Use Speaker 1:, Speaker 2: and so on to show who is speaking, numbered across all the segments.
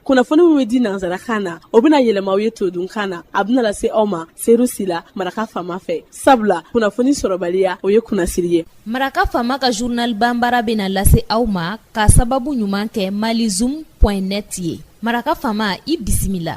Speaker 1: kunnafoni min bɛ di nansarakan na o bɛna yɛlɛma aw ye todunkan na a bɛna lase aw ma seru sila maraka fama fɛ sabula kunnafoni sɔrɔbaliya o ye kunnasiri ye maraka fama
Speaker 2: ka journal banbara bɛna lase aw ma ka sababu ɲuman kɛ malizoom.net ye maraka fama i bisimila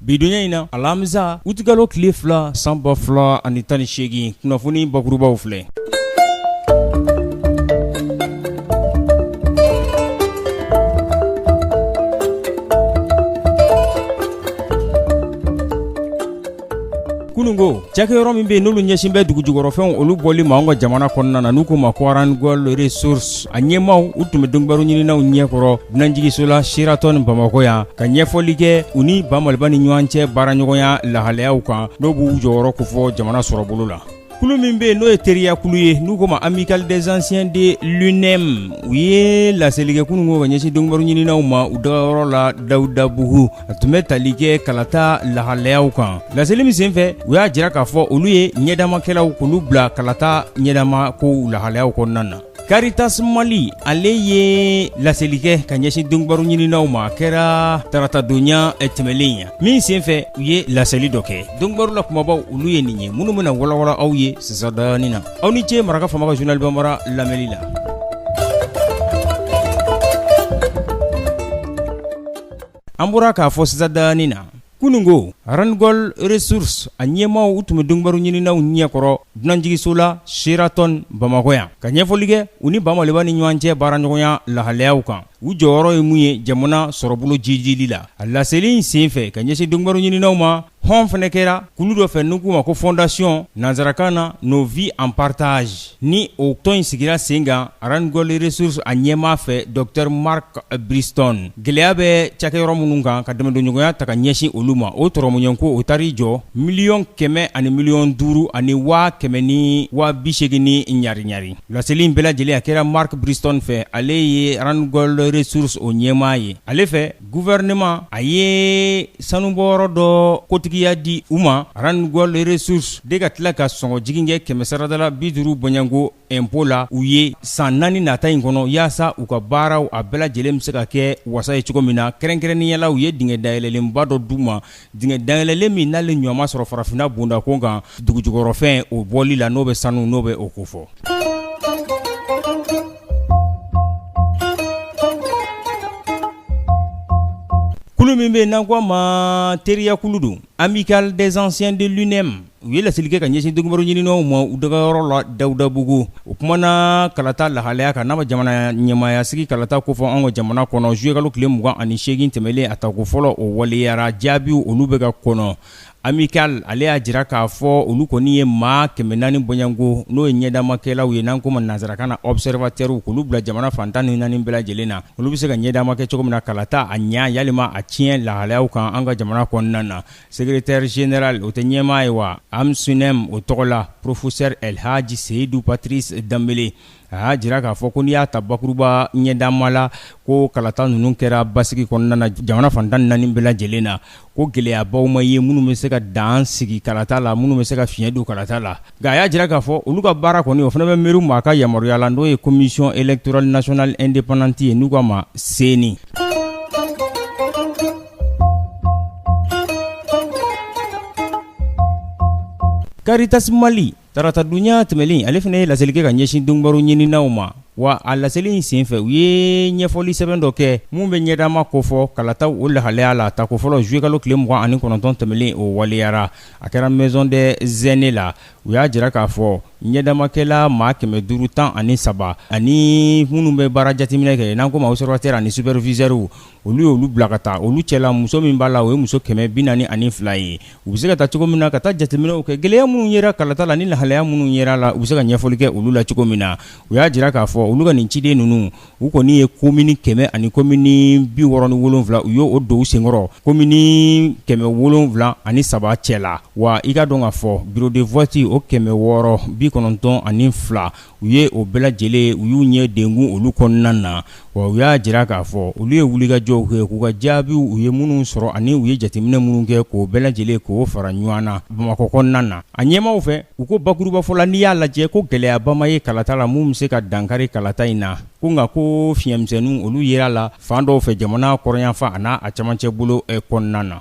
Speaker 3: Bidonya in na alamisa utikalo tile fila san ba fila ani tan ni seegin kunnafoni bakurubaw filɛ kunun ko cakɛ yɔrɔ min bɛ yen n'olu ɲɛsin bɛ dugu jukɔrɔfɛnw olu bɔli ma an ka jamana kɔnɔna na n'u ko ma ko Randgold Resources a ɲɛmaaw u tun bɛ donkibaru ɲininaw ɲɛkɔrɔ dunanjiginso la Sheraton bamakɔ yan ka ɲɛfɔli kɛ u ni ba Maliba ni ɲɔgɔn cɛ baaraɲɔgɔnya lahalayaw kan n'o b'u jɔyɔrɔ ko fɔ jamana sɔrɔbolo la kulu min bɛ yen n'o ye teriyakulu ye n'u ko ma Amicale des Anciens de l'UNEEM u ye laseli kɛ kunun ko ka ɲɛsin donkibaru ɲininaw ma u dagayɔrɔ la dawudabugu a tun bɛ tali kɛ kalata lahalayaw kan laseli min senfɛ u y'a jira k'a fɔ olu ye ɲɛdamakɛlaw k'olu bila kalata ɲɛdama kow lahalayaw kɔnɔna na Caritas Mali ale ye laseli kɛ ka ɲɛsin donkibaru ɲininaw ma a kɛra taratadonya eh, tɛmɛlen ya min senfɛ u ye laseli dɔ kɛ donkibaru la kumabaw olu ye nin ye minnu bɛna walawala aw ye sisan daanin na aw ni ce maraka fama ka journal banbara lamɛli la An bɔra k'a fɔ sisan daanin na kununko Randgold Resources a ɲɛmaaw u tun bɛ donkibaru ɲininaw ɲɛkɔrɔ dunanjiginso la Sheraton bamakɔ yan ka ɲɛfɔli kɛ u ni ba Maliba ni ɲɔgɔn cɛ baara ɲɔgɔnya lahalayaw kan u jɔyɔrɔ ye mun ye jamana sɔrɔbolo jiidili la a laseli in senfɛ ka ɲɛsin donkibaru ɲininaw ma hɔn fana kɛra kulu dɔ fɛ n'u k'u ma ko fondation nansarakan na nos vies en partage Ni o tɔn in sigira sen kan Randgold Resources a ɲɛmaa fɛ Docteur Mark Bristow gɛlɛya bɛ cakɛyɔrɔ minnu kan ka dɛmɛdonɲɔgɔnya ta ka ɲɛsin olu ma, o dɔrɔmɛ ɲɛ ko o taar'i jɔ miliyɔn kɛmɛ ani miliyɔn duuru ani waa kɛmɛ ni waa bi seegin ni ɲari ɲari. Laseli in bɛɛ lajɛlen a kɛra Mark Bristow fɛ, ale ye Randgold Resources o ɲɛmaa ye, ale fɛ Gouvernement a ye sanubɔyɔrɔ dɔ kotigiya di u ma Randgold Resources de ka tila ka sɔngɔjigin kɛ kɛmɛ sarada la bi duuru bɔnɲɛko impôt la u ye san naani nata in kɔnɔ yaasa u ka baaraw a bɛɛ lajɛlen bɛ se ka kɛ wasa ye cogo min na kɛrɛnkɛrɛnnenya la u ye dingɛ dayɛlɛlenba dɔ d'u ma Dingɛ dayɛlɛlen min n'ale ɲɔgɔn ma sɔrɔ farafinna bonda ko kan dugu jukɔrɔfɛn o bɔli la n'o bɛ sanu n'o bɛ o ko fɔ kulu min bɛ yen n'a ko ma teriyakulu don Amicale des Anciens de l'UNEEM u ye laseli kɛ ka ɲɛsin donkibaru ɲininaw ma u dagayɔrɔ la dawudabugu o kumana kalata lahalaya kan n'a ma jamana ɲɛmaayasigi kalata ko fɔ an ka jamana kɔnɔ zuluyekalo tile mugan ani segin tɛmɛnlen a tako fɔlɔ o waleyara jaabiw olu bɛ ka kɔnɔ amicale ale y'a jira k'a fɔ olu kɔni ye maa kɛmɛ naani bɔɲɔgɔnko n'o ye ɲɛdamakɛlaw ye n'an k'o ma nansarakan na observateurw k'olu bila jamana fan tan ni naani bɛɛ lajɛlen na olu bɛ se ka ɲɛdama kɛ cogo min na kalata a ɲɛ walima a tiɲɛ lahalaya kan an ka jamana kɔnɔna na Secrétaire général o tɛ ɲɛmaa ye wa AMSUNEM o tɔgɔ la professeur Elhaji Seydou Patrice Dembélé a y'a jira k'a fɔ ko n'i y'a ta bakuruba ɲɛdama la ko kalata ninnu kɛra basigi kɔnɔna na jamana fan tan ni naani bɛɛ lajɛlen na ko gɛlɛyabaw ma ye minnu bɛ se ka dan sigi kalata la minnu bɛ se ka fiɲɛ don kalata la nka a y'a jira k'a fɔ olu ka baara kɔni o fana bɛ mi maa ka yamaruya la n'o ye commission électorale nationale indépendante ye n'u k'a ma CENI Caritas Mali taratadonya tɛmɛnlen ale fana ye laseli kɛ ka ɲɛsin donkibaru ɲininaw ma wa a laseli in senfɛ u ye ɲɛfɔli sɛbɛn dɔ kɛ min bɛ ɲɛdama kofɔ kalataw o lahalaya la tako fɔlɔ zuluyekalo tile mugan ani kɔnɔntɔn tɛmɛnlen o waleyara a kɛra Maison des Aînés la u y'a jira k'a fɔ ɲɛdamakɛla maa kɛmɛ duuru tan ani saba ani minnu bɛ baara jateminɛ kɛ n'an k'o ma observateur ani superviseurw olu ye olu bila ka taa olu cɛla muso min b'a la o ye muso kɛmɛ bi naani ani fila ye u bɛ se ka taa cogo min na ka taa jateminɛw kɛ gɛlɛya minnu yera kalata la ni lahalaya minnu yera la u bɛ se ka ɲɛfɔli kɛ olu la cogo min na u y'a jira k'a fɔ olu ka nin ciden ninnu u kɔni ye komini kɛmɛ ani komini bi wɔɔrɔ ni wolonwula u y'o don u senkɔrɔ komini kɛmɛ wolonwula ani saba cɛ la wa i k'a dɔn k'a fɔ bureau de vote o kɛmɛ wɔɔrɔ bi kɔnɔntɔn ani fila u ye o bɛɛ lajɛlen u y'u ɲɛ denkun olu kɔnɔna na wa u y'a jira k'a fɔ olu ye wulikajɔw kɛ k'u ka jaabiw u ye minnu sɔrɔ ani u ye jateminɛ minnu kɛ k'o bɛɛ lajɛlen k'o fara ɲɔgɔn na bamakɔ kɔnɔna na a ɲɛmaaw fɛ u ko bakurubafɔ la n'i y'a lajɛ ko gɛlɛyaba ma ye kalata la min bɛ se ka dankari kalata in na ko nka ko fiɲɛmisɛnninw olu yera la fan dɔw fɛ jamana kɔrɔnyanfan an'a a camancɛ bolo kɔnɔna na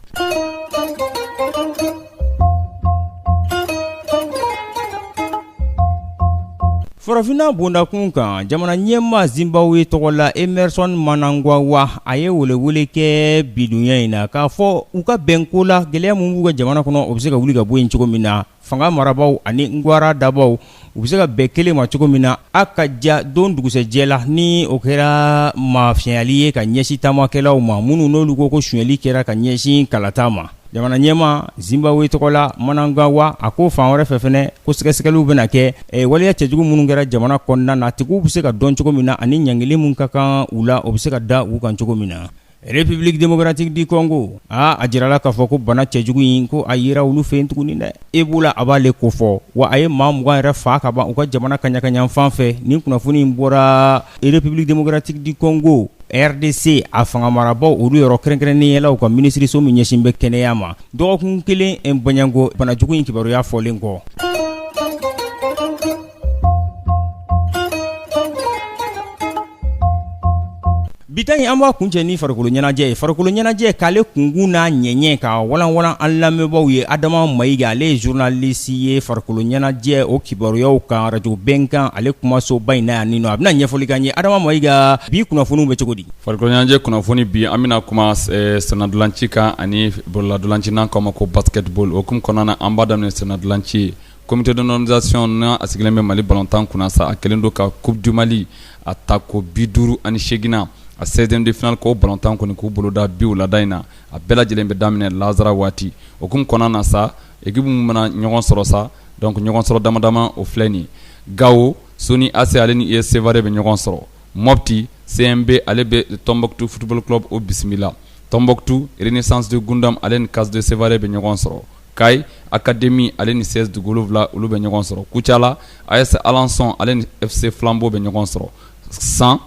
Speaker 3: Farafinna bondakun kan jamana ɲɛmaa Zimbabwe tɔgɔ la Emerson Mnangagwa a ye welewele kɛ bidonya in na k'a fɔ u ka bɛn ko la gɛlɛya min b'u ka jamana kɔnɔ o bɛ se ka wuli ka bɔ yen cogo min na fanga marabaaw ani ngwara dabaw u bɛ se ka bɛn kelen ma cogo min na a ka ja don dugusɛjɛ la ni o kɛra mafiyɛnyali ye ka ɲɛsin taamakɛlaw ma minnu n'olu ko ko sonyɛli kɛra ka ɲɛsin kalata ma jamana ɲɛmaa Zimbabwe tɔgɔ la Mnangagwa a ko fan wɛrɛ fɛ fana ko sɛgɛsɛgɛliw bɛna kɛ waleya cɛjugu minnu kɛra jamana kɔnɔna na tigiw bɛ se ka dɔn cogo min na ani ɲangili min ka kan u la o bɛ se ka da u kan cogo min na République démocratique du Congo aa a jirala k'a fɔ ko bana cɛjugu in ko a yera olu fɛ yen tuguni dɛ Ebola a b'ale kofɔ wa a ye maa mugan yɛrɛ faa ka ban u ka jamana kaɲaka yanfan fɛ ni kunnafoni in bɔra République démocratique du Congo RDC a fanga marabaaw olu yɔrɔ kɛrɛnkɛrɛnnenya la u ka minisiririso min ɲɛsin bɛ kɛnɛya ma dɔgɔkun kelen in bɔɲɔgɔnko banajugu in kibaruya fɔlen kɔ Bita in an b'a kuncɛ ni farikolo ɲɛnajɛ ye farikolo ɲɛnajɛ k'ale kunkun n'a ɲɛɲɛ ka walanwalan an lamɛnbaaw ye Adama Mayiga ale ye journaliste ye farikolo ɲɛnajɛ o kibaruyaw kan arajo Bɛnkan ale kumasoba in na yan nin nɔ a bɛna ɲɛfɔli k'an ye Adama Mayiga bi kunnafoniw bɛ cogo di farikolo ɲɛnajɛ kunnafoni
Speaker 4: bi an bɛna kuma sennantolaci kan ani bololantolaci n'an k'a ma ko basketball o hukumu kɔnɔna an b'a daminɛ sennantolaci ye Comité de normalisation n'a a sigilen bɛ Mali balontan kunna sa, a kɛlen don ka coupe du Mali a ta ko 58 nan, a 16 ème de finale k'o balontan kɔni k'o boloda bi wulada in na, a bɛɛ lajɛlen bɛ daminɛ lasara waati, o hukumu kɔnɔna na sa, equipe minnu bɛna ɲɔgɔn sɔrɔ sa, donc ɲɔgɔn sɔrɔ dama dama o filɛ nin, Gawo, Soni AC ale ni US Sevare bɛ ɲɔgɔn sɔrɔ, Mopti, CMB ale bɛ Tombouctou football club o bisimila, Tombouctou, Renaissance de Goundam ale ni CAS de Sevare bɛ ɲɔgɔn sɔrɔ. Kayi Académie ale ni CS Duguwolofila olu bɛ ɲɔgɔn sɔrɔ Kucala AS Alençon ale ni FC Flambeau bɛ ɲɔgɔn sɔrɔ san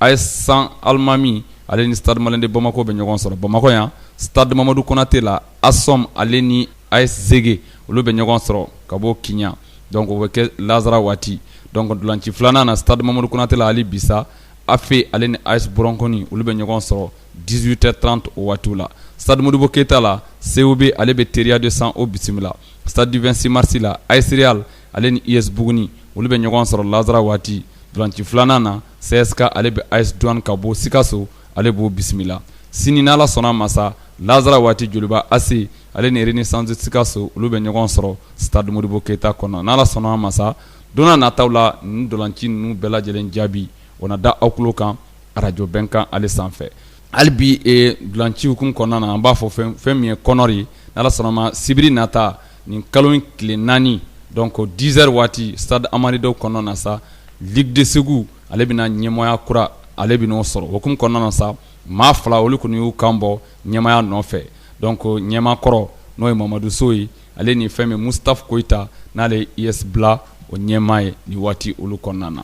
Speaker 4: AS San Almami ale ni Stade Malien de Bamako bɛ ɲɔgɔn sɔrɔ bamakɔ yan stade Mamadou Konaté la ASOM ale ni AS Zégué olu bɛ ɲɔgɔn sɔrɔ ka bɔ Kiɲan donc o bɛ kɛ lasara waati donc ntolanci filanan na stade Mamadou Konaté la hali bi sa AFE ale ni AS Bronconi olu bɛ ɲɔgɔn sɔrɔ 18 heures 30 o waatiw la stade Modibo Keita la COB ale bɛ Teriya de San o bisimila stade du 26 mars la AS Real ale ni US Buguni olu bɛ ɲɔgɔn sɔrɔ lansara waati ntolanci filanan na CSK ale bɛ AS Douane ka bɔ Sikaso ale b'o bisimila sini n'Ala sɔnna a ma sa lansara waati Joliba AC ale ni Renaissance de Sikaso olu bɛ ɲɔgɔn sɔrɔ stade Modibo Keita kɔnɔ n'Ala sɔnna a ma sa don n'a nataw la nin ntolanci ninnu bɛɛ lajɛlen jaabi o na da aw tulo kan arajo Bɛnkan ale sanfɛ hali bi ntolanci hukumu kɔnɔna na an b'a fɔ fɛn min ye kɔnɔri ye n'Ala sɔnna ma sibiri nata nin kalo in tile naani donc dizɛri waati stade Amari Daw kɔnɔna na sa ligue de Segu ale bɛna ɲɛmɔgɔya kura ale bɛn'o sɔrɔ o hukumu kɔnɔna na sa maa fila olu kɔni y'u kan bɔ ɲɛmaaya nɔfɛ donc ɲɛmaa kɔrɔ n'o ye Mamadu So ye ale ni fɛn min Mustapha Koita n'ale ye US Bla o ɲɛmaa ye ni waati olu kɔnɔna na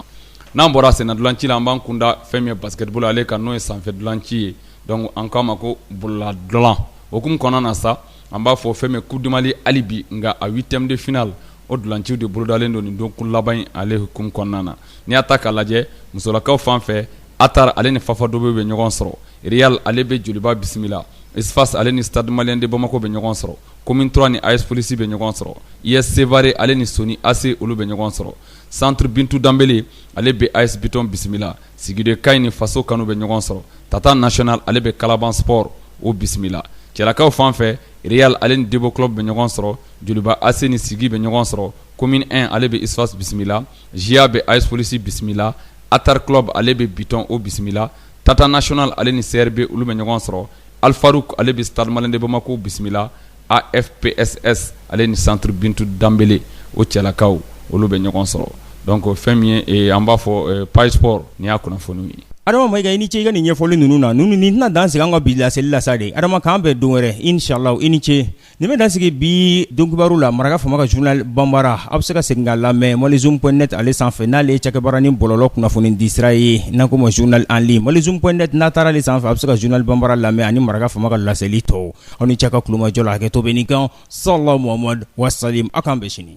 Speaker 4: n'an bɔra sennadolanci la an b'an kunda fɛn min ye basketbolo ale kan n'o ye sanfɛ dolanci ye donc an k'a ma ko bololadolan o hukumu kɔnɔna na sa an b'a fɔ fɛn min ye Coupe du Mali hali bi nka a huitième de finale o dolanciw de bolodalen don nin dɔgɔkun laban in ale hukumu kɔnɔna na n'i y'a ta k'a lajɛ musolakaw fan fɛ Attar ale ni Fafadobe bɛ ɲɔgɔn sɔrɔ Real ale bɛ joliba bisimila USFAS ale ni Stade Malien de Bamako bɛ ɲɔgɔn sɔrɔ Commune trois ni AS Police bɛ ɲɔgɔn sɔrɔ US Sévaré ale ni Sonni AC olu bɛ ɲɔgɔn sɔrɔ Centre Bintou Dembélé ale bɛ AS Biton bisimila sigi de Kayes ni faso kanu bɛ ɲɔgɔn sɔrɔ Tata National ale bɛ Kalaban Sport o bisimila cɛlakaw fan fɛ Real ale ni Débo Club bɛ ɲɔgɔn sɔrɔ joliba AC ni sigi bɛ ɲɔgɔn sɔrɔ Commune un ale bɛ USFAS bisimila JA bɛ AS Police bisimila Attar Club ale bɛ bitɔn o bisimila Tata National ale ni CRB olu bɛ ɲɔgɔn sɔrɔ Alfarouk ale bɛ Stade Malien de Bamako bisimila AFPSS ale ni Centre Bintou Dembélé o cɛlakaw olu bɛ ɲɔgɔn sɔrɔ donc fɛn min ye an b'a fɔ page sport nin y'a kunnafoniw ye
Speaker 3: adama ma i ni ce i ka nin ɲɛfɔli ninnu na ninnu nin tɛna dan sigi an ka bi laseli la sa de adama k'an bɛn don wɛrɛ inshallah i ni ce Nin bɛ dan sigi bi donkibaru la maraka fama ka journal banbara a bɛ se ka segin k'a lamɛn malizum point neti ale sanfɛ n'ale ye cakɛbara nin bɔlɔlɔ kunnafoni disira ye n'an ko ma journal en ligne malizum point neti n'a taara ale sanfɛ a bɛ se ka journal banbara lamɛn ani maraka fama ka laseli tɔw aw ni ce a ka tulomajɔ la hakɛto bɛ nin kan sallallahu Muhammad wasalim aw k'an bɛn sini